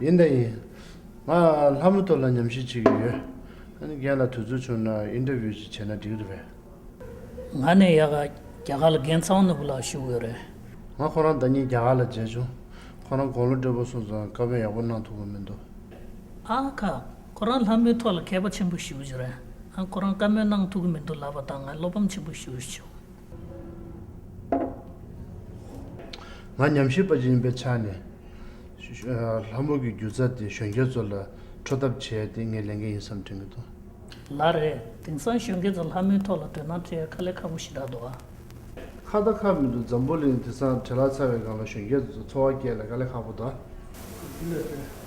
ཡིན་དང་ཡིན། ང་ལྷ་མོ་ཐོ་ལ་ཉམས་ཞིབ་བྱེད་ཀྱི་ཡོད། རྒན་ལ་དུས་ཚོད་བྱུང་ན Interview ཅིག་བྱས་ན་འགྲིག་གི་རེད། ང་ནི་ཡ་ག་རྒྱ་གར་ལ་རྒན་ཚང་ནོར་བུ་ལགས་ཞུ་གི་རེད། ང་ཁོ་རང་ཟླ་གཉིས་རྒྱ་གར་ལ་མཇལ་བྱུང། ཁོ་རང་དགོང་ལོ་སྤྲོད་པོ་སོང་ཙང་དཀའ་བོན་ཡག་པོ་གནང་ཐུབ་གི་མི་འདུག། ཨ་ཁ། ཁོ་རང་ལྷ་མོའི་ཐོ་ལ་མཁས་པ་ཆེན་པོ་ཞུ་གི་རེད། ཁོ་རང་དཀའ་མོལ་གནང་ཐུབ་གི་མི་འདུག་ལབ་པ་དང་ང་བློ་ཕམ་ཆེན་པོ་ཞུ་གི་བྱུང། ང་ཉམས་ཞིབ་པ་ཅིག་ཡིན་པའི་ཆ་ནས། ལྷ་མོ་གི་རྒྱུ་རྩ་དེ་གཞོན་སྐྱེས་ཚོ་ལ་འཕྲོད་ཐབས་བྱས་ཏེ་ངས་ལས་འགན་ཡིན་བསམ་དྲན་གྱི་འདུག། ལ་རེད། དེང་སང་གཞོན་སྐྱེས་ཚོ་ལྷ་མོའི་ཐོག་ལ་དོན་སྣང་སྤྲད་ཡ་ཁ་ལས་ཁ་པོ་ཞིག་རག་འདུག་ཨ། ཁ་བརྡ་ཁག་མི་འདུག་འཛམ་བུ་གླིང་དེ་སང་བྲེལ་ལག་ཚ་བའི་སྒང་ལ་གཞོན་སྐྱེས་ཚོ་འཚོ་བ་སྐྱེལ་ལ་ཁ་ལས་ཁག་པོ་འདུག་ཨ།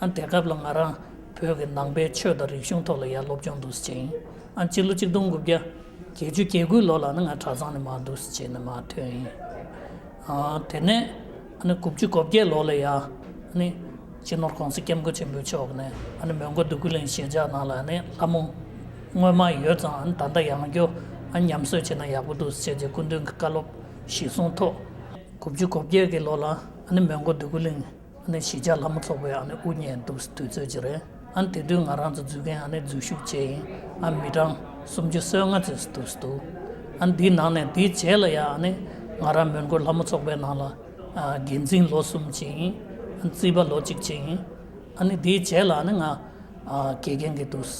ཨང། དེ་སྐབས་ལ་ང་རང་བོད་ཀྱི་ནང་པའི་ཆོས་དང་རིག་གཞུང་ཐོག་ལ་ཡར་སློབ་སྦྱོང་འདུག་བྱེད་ཡིན་ཨང་སྤྱི་ལོ་གཅིག་སྟོང་དགུ་བརྒྱ་བརྒྱད་ཅུ་གྱ་དགུའི་ལོ་ལ་ནི་ང་གྲྭ་ཚང་ནས་མ་འདུག་བྱེད་ནས་མ་ཐོན་ཡིན་ཨང་དེ་ནས་ཨ་ནི་དགུ་བཅུ་གོ་བརྒྱད་ལོ་ལ་ཡང་ཨ་ནི་སྤྱི་ནོར ྋགོང་ས ྋསྐྱབས་མགོན་ཆེན་པོའི་མཆོག་ནས་ཨ་ནི་མོན་གྷོ་འདུ་ཁུལ་གླིང་ཞེས་བྱ་ནང་ལ་ཨ་ནི་ལྷ་མོ་སྔོན་མ་ཡོད་ཙང་ཨ་ནི་ད་ལྟ་ཡང་སྐྱོ་ཨ་ནི་ཉམས་གསོས་བྱེད་ན་ཡག་པོ་འདུག་བྱེད་ཅེས་སྐུ་མདུན་གྱི་བཀའ་སློབ་གཞི་བཟུང་ཐོག་དགུ་བཅུ་གོ་བརྒྱད་ཀྱི་ལོ་ལ་ཨ་ནི་མོན་གྷོ་འདུ་ཁུལ་གླིང་གཞིས་ཆགས་ལྷ་མོ་ཚོགས་པའི་དབུ་བརྙེས་འདུག་དུས་ཚོད་ཅིག་རེད་དེ་དུས་ང་རང་ཚོ་འཛུལ་མཁན་འཛུལ་ཞུགས་བྱས་ཡིན་མི་གྲངས་སུམ་ཅུ་སོ་ལྔ་ཙམ་འདུག་འདིའི་ནང་ནས་དེའི་རྗེས་ལ་ཡང་ང་རང་མོན་གྷོ་ལྷ་མོ་ཚོགས་པའི་ནང་ལ་འགན་འཛིན་ལོ་གསུམ་བྱས་ཡིན་རྩིས་པ་ལོ་གཅིག་བྱས་ཡིན་དེའི་རྗེས་ལ་ང་དགེ་རྒན་གྱི་འདུག་ལས་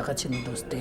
ཀ་བྱས་ནས་འདུག་དེ་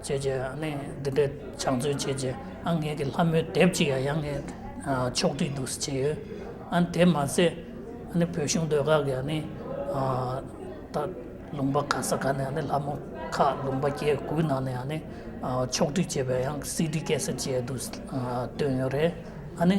བྱས་རྗེས་ནི་འདི་འདྲའི་ཕྱག་མཛོད་བྱས་རྗེས་ཨ་ངེས་ཀྱི་ལྷ་མོའི་དེབ་ཅིག་ཡང་ངས་ཕྱོགས་བསྒྲིགས་འདུག་ཟེར་གྱི་ཡོད། ཨ་ནི་དེ་མ་ཟད་ཨ་ནི་བོད་གཞུང་སྡོད་ཁག་གི་ཨ་ནི་ད་ལུང་པ་ག་ས་ག་ནས་ཨ་ནི་ལྷ་མོ་ཁག་ལུང་པ་སྐྱེ་དགུའི་ནང་ནས་ཨ་ནི་ཕྱོགས་བསྒྲིགས་བྱས་པའི་ཡང་སིད་ཀྱི་སྐད་ས་བཅས་འདུག་བཏོན་ཡོད་རེད། ཨ་ནི།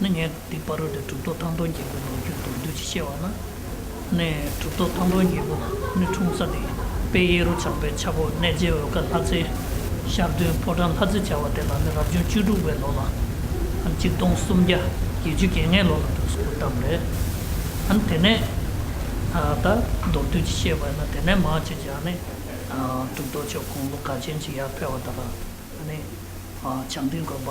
ནི་ངས་དེ་པར་རོལ་ཏེ་གྲུབ་ཐོབ་ཐང་སྟོང་རྒྱལ་པོའི་ལོ་རྒྱུས་མདོར་བསྡུས་ཀྱིས་བཤད་པ་ན་ནི། གྲུབ་ཐོབ་ཐང་སྟོང་རྒྱལ་པོ་ནི་འཁྲུངས་ས་ནི་དཔལ་གཡས་རུ་ཆགས་པའི་ཆག་སྒོ་གནས་རྗེ་འོལ་ཀ་ལྷ་རྩེ། ཤར་སྟོན་ཕོ་བྲང་ལྷ་རྩེ་བྱ་བ་དེ་དག་ནི་རབ་བྱུང་བཅུ་དྲུག་པའི་ལོ་ལ། གཅིག་སྟོང་སུམ་བརྒྱ་བརྒྱད་ཅུ་གྱ་ལྔའི་ལོ་ལ་དུས་སུ་བཀུར་སྟབས་རེད། དེ་ནས་ད་མདོར་བསྡུས་ཀྱིས་བཤད་པ་ན་དེ་ནས་མར་ཅི་བྱ་ནི། གྲུབ་ཐོབ་ཆོས་གོང་ལོ་ག་ཅན་གྱི་ཡར་འཕེལ་བ་དག་ནི། བྱང་སྡིངས་དགོན་པ།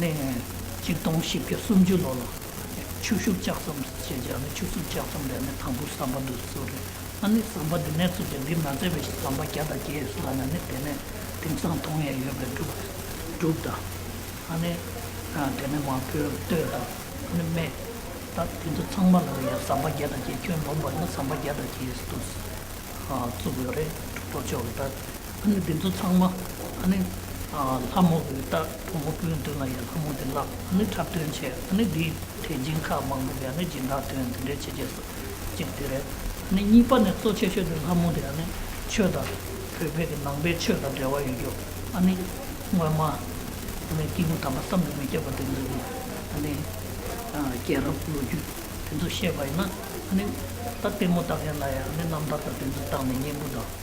ནས། གཅིག་སྟོང་བཞི་བརྒྱ་སུམ་ཅུ་ལོ་ལ། ཆུ་ཤུགས་ལྕགས་ཟམ་ཞེས་བྱ་ནི་ཆུ་ཤུགས་ལྕགས་ཟམ་རེད་ནས་དང་པོ་ཟམ་པ་འདུག་གསོལ་རེད་ཨ་ནི་ཟམ་པ་འདི་ནས་ཚུར་ཅིག་འདི་མ་མཛད་པའི་ཞིག་ཟམ་པ་བརྒྱ་དང་བརྒྱད་ཡོད་ས་ལ་ནི་དེ་ནས་དེང་སང་དུང་ཡས་ཡོད་པའི་འབྲུག་འབྲུག་དང། ཨ་ནི། དེ་ནས་མ་བོས་སྟོད་དང་ཨ་ནི་སྨད། ད་དེ་ཚོ་ཚང་མ་ལ་ཡང་ཟམ་པ་བརྒྱ་དང་བརྒྱད་ཁྱོན་ལོངས་པ་ནི་ཟམ་པ་བརྒྱ་དང་བརྒྱད་ཡོད་ས་འདུག་གསོལ་རེད་འབྲུག་གཏོར་ཆོག་གི་ད། ནི་དེ་ཚོ་ཚང་མ་ནི་ལྷ་མོ་བུའི་རྟ་ཕོ་མོ་སྤུན་བདུན་ལ་ཡང་ལྷ་མོ་དེ་ལ་ནི་འཁྲབ་སྟོན་བྱས་ནི་དེའི་ཐད་སྦྱིན་ཁག་མང་པོས་ཡང་ནི་སྦྱིན་བདག་དོན་དེ་འདྲའི་བྱས་རྗེས་སུ་བཅིངས་དེ་རེད་ནི་གཉིས་པ་ནི་གཙོ་ཆེ་ཤོས་དེ་ལྷ་མོ་དེ་ཡང་ནི་ཆོས་དང་བོད་ཕེལ་གི་ནང་པའི་ཆོས་དང་འབྲེལ་བ་ཡོད་རྒྱུ་ནི་སྔོན་མ་ནི་སྐྱེས་བུ་དམ་པ་བསམ་དུ་མི་ཁྱབ་པ་དེ་ཚོས་ཀྱི་ནི་སྐྱེས་རབས་ལོ་རྒྱུས་དེ་ཚོ་བཤད་པ་ཡིན་ན་ནི་ད་ལྟད་མོ་ལྟ་མཁན་ལ་ཡང་ནི་རྣམ་ཐར་དང་དེ་ཚོ་བཏང་ནས་སྙན་བུ་དང།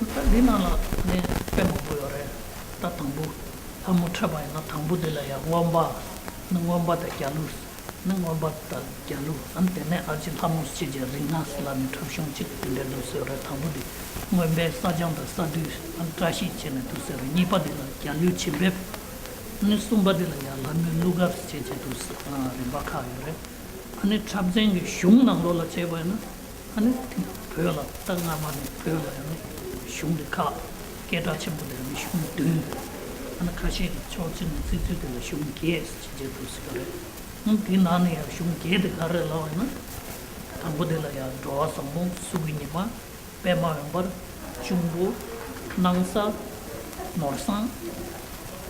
ད་འདི་ནང་ལ་ནས་དཔེ་མང་པོ་ཡོད་རེད་ད་དང་པོ་ལྷ་མོ་འཕྲད་པ་ཡིན་ན་དང་པོ་དེ་ལ་ཡང་སྔོན་པ་ནི་སྔོན་པ་དང་རྒྱ་ལུས་ནི་སྔོན་པ་དང་རྒྱ་ལུས་ཨང་དེ་ནས་ཨ་ཅེ་ལྷ་མོ་སྐྱིད་ཀྱི་རིག་སྔགས་ལ་ནི་འཁྲབ་གཞུང་གཅིག་དེ་འདྲའི་དུ་ཟེར་རེད་དང་པོ་དེ་སྔོན་པའི་བསགས་སྦྱང་དང་བསགས་དུས་ཨང་བཀྲ་ཤིས་བྱས་ནས་དུ་ཟེར་རེད་གཉིས་པ་དེ་ལ་རྒྱ་ལུས་བྱིན་འབེབ་ནི་གསུམ་པ་དེ་ལ་ཡང་ལྷ་མོའི་གླུ་གར་བྱེད་ཅེས་དུ་ཟེར་རིམ་པ་ཁག་ཡོད་རེད་ཨ་ནི་འཁྲབ་ཚན་གྱི་གཞུང་ནང་ལོགས་ལ་བྱས་པ་ཡིན་ན། ཨ་ནི་དེ་ཡང་བོད་ལ་རྟགས་སྔ་མ་ནས་བོད་ལ་ཡང་གཞུང་འདི་ཁག་སྐད་གྲགས་ཆེན་པོ་ལྡན་པའི་གཞུང་བདུན། ཨ་ནི་ཁ་ཤས་ཀྱིས་ཕྱོགས་གཅིག་ནས་བརྩི་ཚུལ་དེ་ལ་གཞུང་བརྒྱད་ཅེས་བརྗོད་ཐུབ་སྲིད་པ་རེད། ཡང་དེའི་ནང་ནས་ཡང་གཞུང་བརྒྱད་དེ་ག་རེ་ལ་བས་ན། དང་པོ་དེ་ལ་ཡང་འགྲོ་བ་བཟང་པོ་གཟུགས་ཀྱི་ཉི་མ། པདྨ་འོད་འབར། འབྱུང་པོ། སྣང་ས། ནོར་བཟང།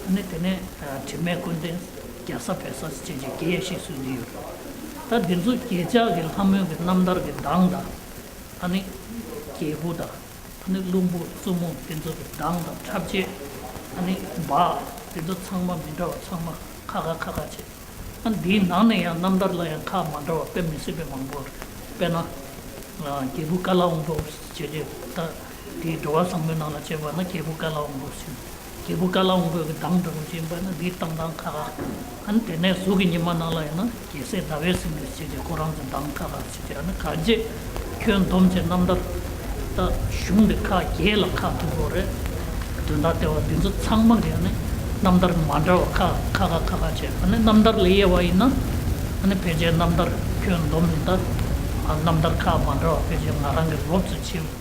ཨ་ནི་དེ་ནས་དྲི་མེད་ཀུན་ལྡན། རྒྱལ་ས་བོད་ས་བཅས་ཀྱི་རྒྱལ་གཞས་སུ་བསྡུས་ཡོད། ད་འདི་ཚོ་ཁྱེད་ཅག་གི་ལྷ་མོའི་གི་རྣམ་ཐར་གི་གདངས་དང། ད་ནི་རྒྱལ་བུ་དང། ད་ནི་བླུན་པོ་བཙུན་མོ་འདི་ཚོ་གི་གདངས་དང་འཁྲབ་བྱེད། ད་ནི་འབའ། འདི་ཚོ་ཚང་མ་མི་འདྲ་བ་ཚང་མ་ཁ་ཁ་ཁ་ཁ་བྱེད། ད་འདིའི་ནང་ནས་ཡང་རྣམ་ཐར་ལ་ཡང་ཁ་མ་འདྲ་བ་དཔེ་མི་སྲིད་པའི་མང་པོ་རེད། དཔེར་ན། རྒྱལ་བུ་ཀ་ལ་འོང་བའོ་ཞེས་བྱས་རྗེས་ད། དེས་འགྲོ་བ་བཟང་པོའི་ནང་ལ་སྤྱོད་པ་ན་རྒྱལ་པོ་ཀཱི་ལ་འོང་པོ་ཟིན། རྒྱལ་པོ་ཀཱི་ལ་འོང་པོས་ཀྱི་དམ་འགྲོ་མི་བྱེད་པ་ནི་དེའི་གཏམ་དང་ཁ་ཁ། ཨན་དེ་ནས་གཟུགས་ཀྱི་ཉི་མ་ནང་ལ་ཡོད་ན་རྒྱལ་སྲས་ཟླ་བས་ཟིན་པའི་ཚུལ་གྱིས་ཁོ་རང་ཚོའི་གདངས་ཁ་ཁ་ཚུལ་དེ་ར་ནི་ག་རྗེ། ཁྱོད་སྡོམ་བྱེད་རྣམ་དག་ད་གཞུང་འདི་ཁ་རྒྱས་ལ་ཁ་ཐུག་པོ་རེད། དོན་དག་ལྟེ་བ་འདི་ཚོ་ཚང་མ་གི་ནི་རྣམ་ཐར་མ་འདྲ་བ་ཁ་ཁ་ཁ་ཁ་ཁ་བྱེད་ཨ་ནི་རྣམ་ཐར་ལས་དབྱེ་བ་ཡིན་ན་ཨ་ནི་ཕལ་ཆེར་རྣམ་ཐར་ཁྱོད་སྡོམ་མི་ད་རྣམ་ཐར་ཁ་མ་འདྲ་བ་ཕལ་ཆེར་ང་རང་གི་སློབ་ཚོས་བྱེད།